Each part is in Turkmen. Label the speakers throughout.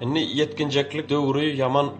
Speaker 1: Indi ýetginjeklik döwri ýaman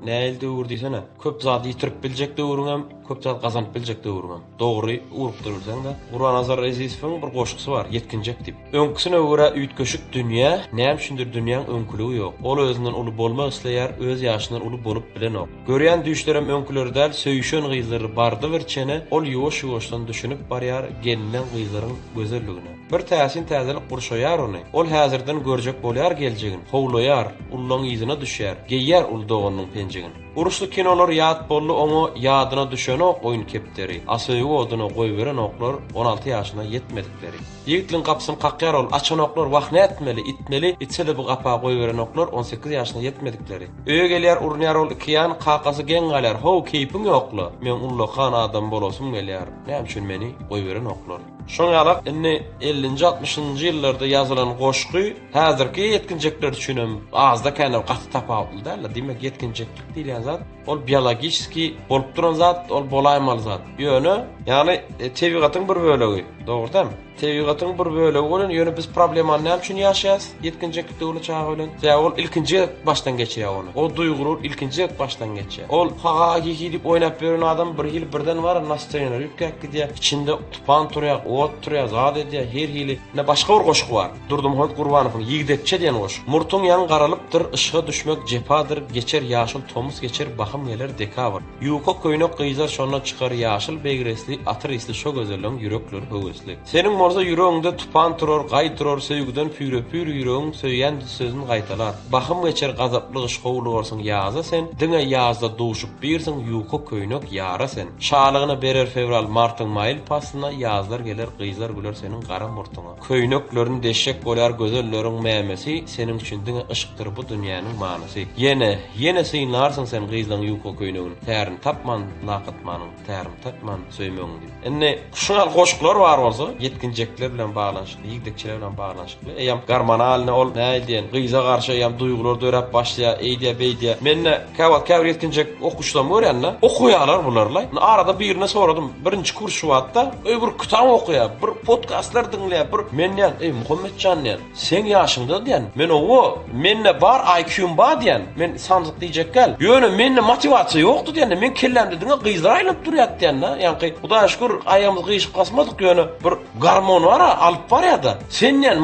Speaker 1: näil döwür diýsene. Köp zady ýitirip biljek döwrüň hem, köp zat gazanyp biljek döwrüň hem. Dogry urupdyr birden-de. Gurbannazar Ezizowyň bir goşgusy bar, Ýetginjek diýip. Öňküsine görä üýtgeşik dünýä, näme üçindir dünýäň öňküligi ýok. Ol özünden uly bolmak isleýär, öz ýaşyndan uly bolup bilenok. Görýän düýşlerem öňküleri däl söýüşen gyzlary bardy bir çene ol ýuwaş ýuwaşdan düşünip barýar gelnen gyzlaryň gözelligine bir täsin täzelik gurşaýar ony ol häzirden görjek bolýar geljegin howlaýar ullaň yzyna düşýär geýýär uly doganynyň penjegin uruşly kinolar ýat boldy oňa ýadyna düşenok oýun kepderi a söýgi oduna goýberenoklar on alty ýaşyna ýetmedikleri. Ýigitligiň gapysyny kakýar ol. Açanoklar, Wah, nätmeli, itmeli, itse-de bu gapa goýberenoklar, on sekiz ýaşyna ýetmedikleri. Öýe gelýär, urunýar ol ikiýan, kakasy geň galýar, How, keýpiň ýok-la? Meň ullakan adam bolasym gelýär. Näme üçin meni goýberenoklar? Şoň ýalak, indi ellinji-altmyşynjy ýyllarda ýazylan goşgy häzirki ýetginjekler üçinem azda-kände gaty tapawutly däl-de. Diýmek, ýetginjeklik diýilýän zat, Ol biologiski bolup duran zat, ol bolaýmaly zat. Ýöne, ýagny tebigatyň bir bölegi, dogry däl? Tebigatyň bir bölegi bolan, ýöne biz problemany näme üçin ýaşaýas? Ýetginjek döwli çaga bilen. Sebäbi ol ilkinji gezek başdan geçirýär ony. O duýgular ilkinji gezek başdan geçýär. Ol ha-ha, hi-hi diýip oýnap ýören adam bir hili birden bar, nastrýeniýasy üýtgäp gidýär. Içinde tupan turýar, ot turýar, zat edýär, her hili. Ine başga bir goşgy bar. Durdymyrat Gurbanowyň Ýigdekçe diýen goşgy. Murtuň ýaň garalypdyr, yşga düşmek jepadyr, Geçer ýaşyl tomus geçer, bahym geler dekabr. Ýuka köýnek gyzlar şonda çykar ýaşyl begresli, Atyr isli şo gözelleň ýürekleri höwesli. Seniň bolsa ýüregiňde tupan turar, gaý turar, Söýgüden püre-pür ýüregiň söýýän sözün gaýtalar. Bahym geçer gazaply gyş howlugarsyň ýaza sen, Diňe ýazda duşup birsiň ýuka köýnek ýara sen. Şalygyny berer fewral-martyň maýyl paslyna, Ýazlar geler, gyzlar güler seniň gara murtuňa. Köýneklerin deşjek bolar gözelleriň mämesi seniň üçin diňe yşkdyr bu dünýäniň manysy Ýene, ýene synlarsyň sen gyzlaň ýuka köýnegin Tärini tapman lakatmanyň, tärini tapman söýmegiň diýip. Indi şuň ýaly goşgular bar bolsa ýetginjekler bilen baglanyşykly, ýigdekçeler bilen baglanyşykly. Eýýäm gormonalny ol näil diýen gyza garşy eýýäm duýgular döräp başlaýar, eýdýär, beýdýär. Mende. Käwagt käbir ýetginjek okyjylarym görýän-dä, okaýarlar bular-la. Arada birine soradym, birinji kurs şu wagtda, öý bir kitap okaýar, bir podkastlar diňleýär, bir men diýýän, eý Muhammet jan diýýän, seň ýaşyňda diýýän, men owo, mende bar IQ-ym bar diýýän, men sanjyk diýjek däl, ýöne mende motiwasiýa ýokdy diýýän-de, meň kellämde diňe gyzlar aýlanyp durýardy diýýän-dä, ýaňky Hudaýa şükür aýagymyzy gyýşyp basmadyk, ýöne bir garmon bar-a, alyp barýa-da, sen diýýän,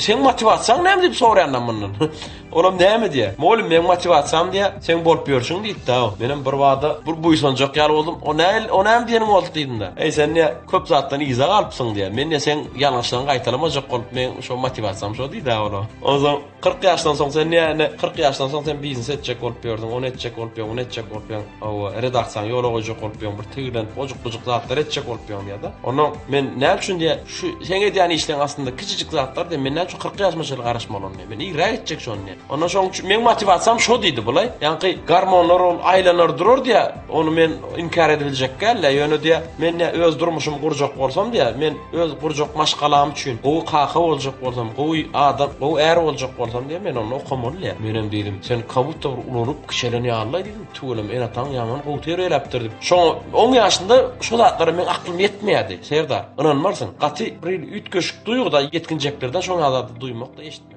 Speaker 1: seň motiwasiýaň näme diýip soraýan-da mundan. Olam näme diýýär? Mugallym, meň motiwasiýam diýýär, seň bolup ýörşüň diýipd-ä. Menem birbada bir buýsanjak ýaly boldum. O näl, o näme diýeniň boldy diýdim-de. Eý, sen diýýär, köp zatdan yza galypsyň diýýär. Men diýýär, seň ýalňyşlaryňy gaýtalamajak bolup, meň şo motiwasiýam şo diýdi-ä olam. Onsoň, kyrk ýaşdan soň sen diýýär, indi kyrk ýaşdan soň sen biznes etjek bolup ýörsüň, ony etjek bolup ýöň, muny etjek bolup ýöň, hawa, redaksiýaňy ýola goýjak bolup ýöň, bir tigirlenip ojuk-bujuk zatlar etjek bolup ýöň diýýär-de. Onnoň, men näme üçin diýýär, şu seň edýän işleriň aslynda kiçijik zatlar diýýär, men näme üçin kyrk ýaşyma çenli garaşmalyn? Ebe nirä gitjek şony diýen. Onda şoň üçin meň motiwasiýam şo diýdi bulaý. Ýaňky gormonlar ol aýlanar durar diýä, ony men inkär edip biljek däl-le. Ýöne diýä, men diýä öz durmuşymy gurjak bolsam diýä, men öz gurjak maşgalam üçin gowy kaka boljak bolsam, gowy adam, gowy är boljak bolsam diýä, men onda okamaly diýä. Menem diýdim, sen kabutta bir ulalyp kiçelen ýaly-laý diýdim. Tüweleme ene-ataň ýaman gowy terbiýeläpdir diýip. Şoňa on ýaşynda şu zatlara meň aklym ýetmeýärdi, Serdar. Ynanmarsyň, gaty bir hili üýtgeşik duýgy-da ýetginjeklerden şoňa zady duýmak-da, eşitmek.